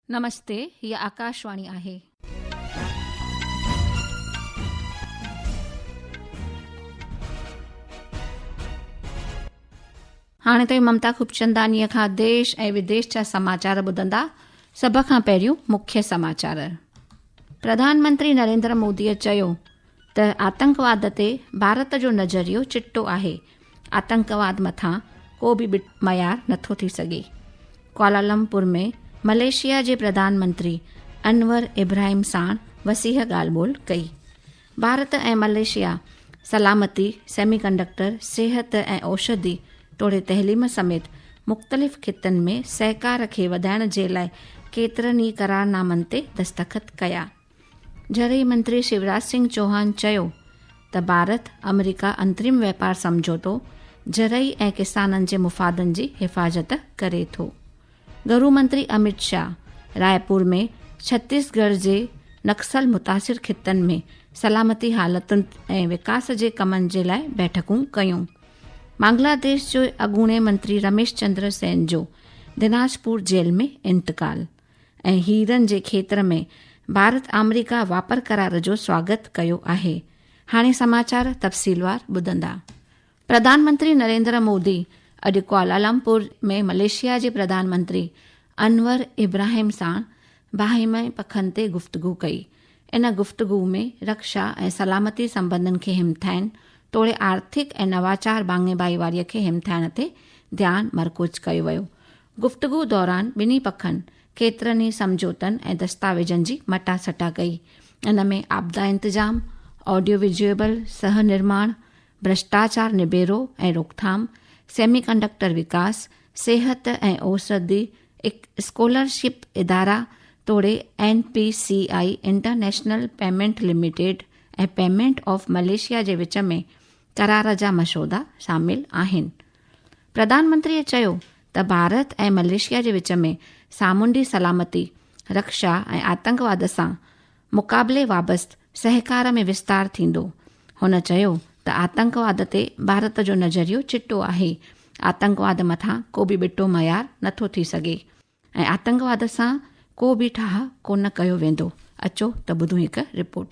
نمستي هي آڪاشواڻي آهي. هاڻي توهين ممتا خوبچندانيء کان ديش ۽ وديش جا سماچار ٻڌندا، سڀ کان پهريون مکيه سماچار. پرڌان منتري نريندر موديء چيو ته آتنڪواد تي ڀارت جو نظريو چٽو آهي آتنڪواد مٿان ڪو به بٽ معيار نٿو ٿي سگهي ڪوالالمپور ۾ ملائيشيا جي پرڌان منتري انور ابراهيم ساڻ وسيح ڳالهه ٻولهه ڪئي ڀارت ۽ ملائيشيا سلامتي سيمي ڪنڊڪٽر صحت ۽ اوشڌي توڙي تعليم سميت مختلف خطن ۾ سهڪار کي وڌائڻ جي لاء ڪيترن ئي قرارنامن تي دستخط ڪيا جهرئي منتري شيوراج سنگهه چوهان چيو ته ڀارت آمريڪا انترم واپار سمجهوتو جهرئي ۽ ڪسانن جي مفادن جي حفاظت ڪري ٿو. گهرو منتري اميت شاهه رائپور ۾ ڇتيس ڳڙهه جي نڪسل متاثر خطن ۾ سلامتي حالتن ۽ وڪاس جي ڪمن جي لاء بيٺڪون ڪيون. بنگلاديش جو اڳوڻي منتري رميش چندر سين جو دناجپور جيل ۾ انتقال. ۽ هيرن جي کيتر ۾ ڀارت آمريڪا واپر قرار جو سواگت ڪيو آهي هاڻي سماچار تفصيلوار ٻڌندا پرڌان منتري نريندر مودي اڄ ڪوالالمپور ۾ مليشيا جي پرڌان منتري انور ابراهيم سان باهمي پکن تي گفتگو ڪئي ان گفتگو ۾ رڪشا ۽ سلامتي سمبندن کي همٿائن توڙي آرٿڪ ۽ نواچار ڀاڱي ڀائيواري کي همٿائڻ تي ڌيان مرڪوز ڪيو ويو گفتگو دوران ٻنهي پکن ڪيترن ئي سمجهوتن ۽ دستاويزن جي مٽا سٽا ڪئي، ان ۾ آپدا انتظام، آڊيو ويجوئيبل سهه نرماڻ، ڀرشٽاچار نبيرو ۽ روڪٿام، سيمي ڪنڊڪٽر وڪاس، صحت ۽ اوسردي، اسڪالرشپ ادارا توڙي N P C I international payment limited ۽ payment of Malaysia جي وچ ۾ قرار جا مسودا شامل آهن. پرڌانمنتريء چيو ته ڀارت ۽ ملائيشيا جي وچ ۾ سامونڊي سلامتي، رڪشا ۽ آتنڪواد سان مقابلي بابت سهڪار ۾ وستار ٿيندو. هن چيو ته آتنڪواد تي ڀارت جو نظريو چٽو آهي، آتنڪواد مٿان ڪو به ٻٽو معيار نٿو ٿي سگهي ۽ آتنڪواد سان ڪو به ٺاهه ڪونه ڪيو ويندو، اچو ته ٻڌون هڪ رپورٽ.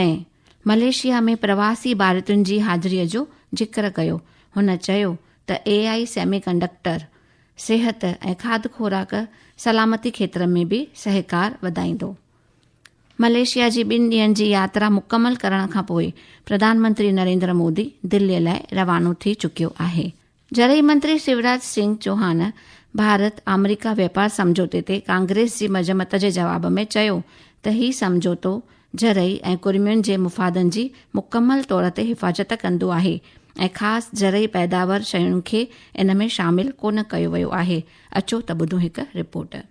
۽ ملائيشيا ۾ پرواسي ڀارتين جي حاضري جو ذڪر ڪيو. هن چيو ته اي آء سيمي ڪنڊڪٽر، صحت ۽ کاڌ خوراڪ سلامتي کيتر ۾ به سهڪار وڌائيندو. ملائيشيا جي ٻن ڏينهن جي ياترا مڪمل ڪرڻ کانپوء پرڌان منتري نريندر مودي دلي لاء روانو ٿي چڪيو آهي. جڏهن منتري شوراج سنگهه چوهان ڀارت آمريڪا واپار سمجهوتي تي ڪانگريس جي مذمت جي جواب ۾ چيو ته هي سمجهوتو زرعي ۽ ڪرمين جي مفادن جي مڪمل طور تي حفاظت ڪندو آهي ۽ خاص زرعي پيداور شين کي ان ۾ شامل ڪونه ڪيو ويو آهي اچو ته ٻڌون هڪ رپورٽ.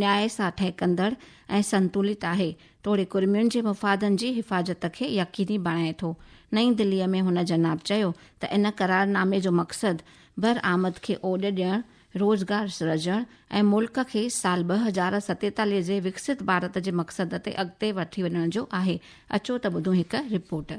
نياء سان ٺهڪندڙ ۽ سنتولت آهي، توڙي ڪرمين جي مفادن جي حفاظت کي يقيني بڻائي ٿو. نئين دليء ۾ هن جناب چيو ته ان قرارنامي جو مقصد برآمد کي اوڏ ڏيڻ، روزگار سرجڻ ۽ ملڪ کي سال ٻه هزار ستيتاليهه جي وڪسيت ڀارت جي مقصد تي اڳتي وٺي وڃڻ جو آهي، اچو ته ٻڌون هڪ رپورٽ.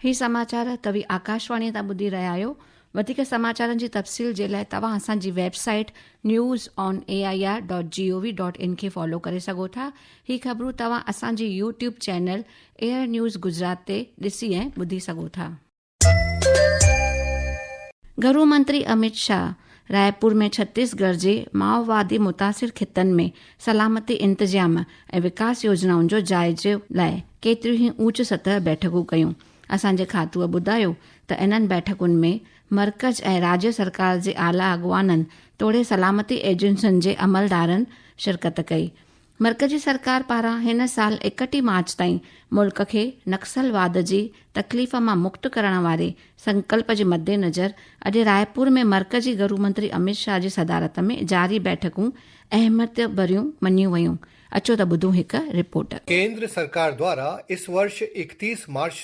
هي سماچار توهي آڪاشواڻي تان ٻڌي رهيا آهيو وڌيڪ سماچارن جي تفصيل جي لاء توهان اسان جي website news on A I R dot G O V dot in کي فالو ڪري سگهو ٿا هي خبرون توهان اسان جي YouTube channel air news Gujarat تي ڏسي ۽ ٻڌي سگهو ٿا گهرو منتري اميت شاهه رايپور ۾ ڇتيس ڳڙھ جي مائووادي متاثر خطن ۾ سلامتي انتظام ۽ وڪاس يوجنائن جو جائزي لاء ڪيتريون ئي اوچ سطح بيٺڪون ڪيون، اسان جي کاتوء ٻڌايو ته انهن بيٺڪن ۾ مرڪز ۽ راجي سرڪار جي اعليٰ اڳواڻن توڙي سلامتي ايجنسين جي عملدارن شرڪت ڪئي، مرڪزي سرڪار پاران هن سال اڪٽيهه مارچ تائين ملڪ کي نڪسلواد جي تڪليف مان مڪت ڪرڻ واري سنڪلپ جي مدنظر اڄ رائپور ۾ مرڪزي گهرومنتري اميت شاهه جي صدارت ۾ جاري بيٺڪون اهميت ڀريون مڃيون ويون اچو ته ٻڌون هڪ رپورٽ. ڪيندر سرڪار دوارا اس ورش اڪتيس مارچ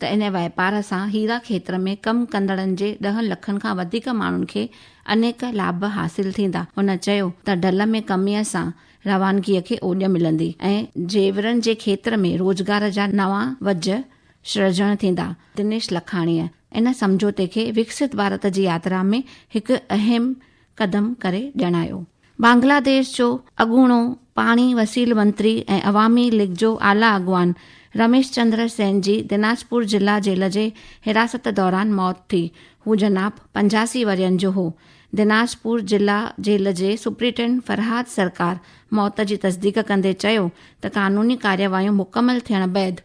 ته ان واپار سان هيرا کيتر ۾ ڪم ڪندڙن جي ڏهن لکن کان وڌيڪ ماڻهن کي انيڪ لاڀ حاصل ٿيندا. هن چيو ته ڍل ۾ ڪميء سان روانگيء کي اوڄ ملندي ۽ زيورن جي کيتر ۾ روزگار جا نوان وجهه سرجڻ ٿيندا. دنيش لکاڻيء ان سمجهوتي کي وڪسيت ڀارت جي ياترا ۾ هڪ اهم قدم ڪري ڄاڻايو. بنگلاديش جو اڳوڻو پاڻي وسيل منتري ۽ عوامي ليگ جو اعليٰ اڳواڻ رميش چندر سين جي دناجپور ضلع جيل جي حراست دوران موت ٿي. هو جناب پنجاسي ورهين جو هو. دناجپور ضلع جيل جي سپرنٽنڊنٽ فرهاد سرڪار موت جي تصديق ڪندي چيو ته قانوني ڪارروايون مڪمل ٿيڻ بعد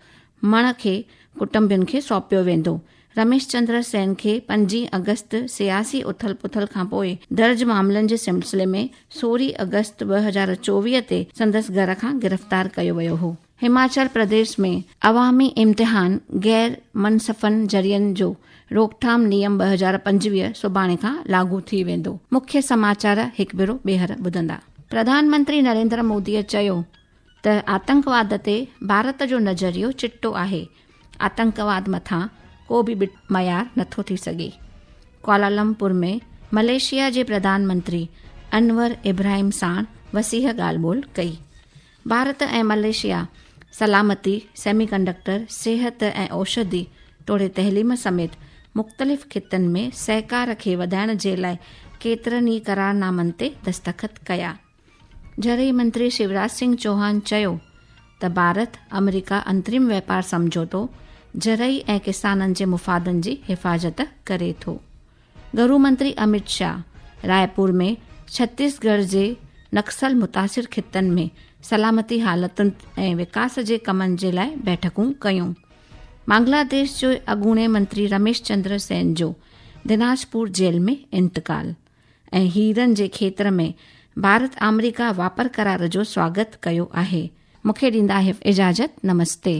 مڻ کي ڪٽنبين کي سونپيو ويندو. رميش چندر سين کي پنجين آگسٽ سياسي اٿل پٿل کانپوء درج معاملن جي سلسلي ۾ سورهين آگسٽ ٻه هزار چوويهه تي سندس گهر کان گرفتار ڪيو ويو هو. هماچل پرديس ۾ عوامي امتحان غير منصفن ذريعن جو روڪٿام نيم ٻه هزار پنجويهه سڀاڻي کان لاڳو ٿي ويندو مکيه سماچار هڪ ڀيرو ٻيهر ٻڌندا. پرڌان منتري نريندر مودي چيو ته آتنڪواد تي ڀارت جو نظريو چٽو آهي، آتنڪواد مٿان ڪو به ٻٽ معيار نٿو ٿي سگهي. ڪوالالمپور ۾ ملائيشيا جي پرڌان منتري انور ابراهيم ساڻ وسيع ڳالهه ٻولهه ڪئي. ڀارت ۽ ملائيشيا سلامتي، سيمي ڪنڊڪٽر، صحت ۽ اوشڌي توڙي تعليم سميت مختلف خطن ۾ سهڪار کي وڌائڻ جي لاء ڪيترن ئي قرارنامن تي دستخط ڪيا. زرعي منتري شوراج سنگهه چوهان چيو ته ڀارت آمريڪا انترم واپار سمجهوتو زرعي ۽ ڪسانن جي مفادن جي حفاظت ڪري ٿو. گهرو منتري اميت شاهه رائيپور ۾ ڇتيس ڳڙهه جي نڪسل متاثر خطن ۾ سلامتي حالتن ۽ وڪاس جي ڪمن جي لاء بيٺڪون ڪيون. بنگلاديش جو اڳوڻي منتري رميش چندر سين جو دناجپور جيل ۾ انتقال. ۽ هيرن جي کيتر ۾ ڀارت آمريڪا واپر قرار جو سواگت ڪيو آهي. مون کي ڏيندا اجازت نمستي.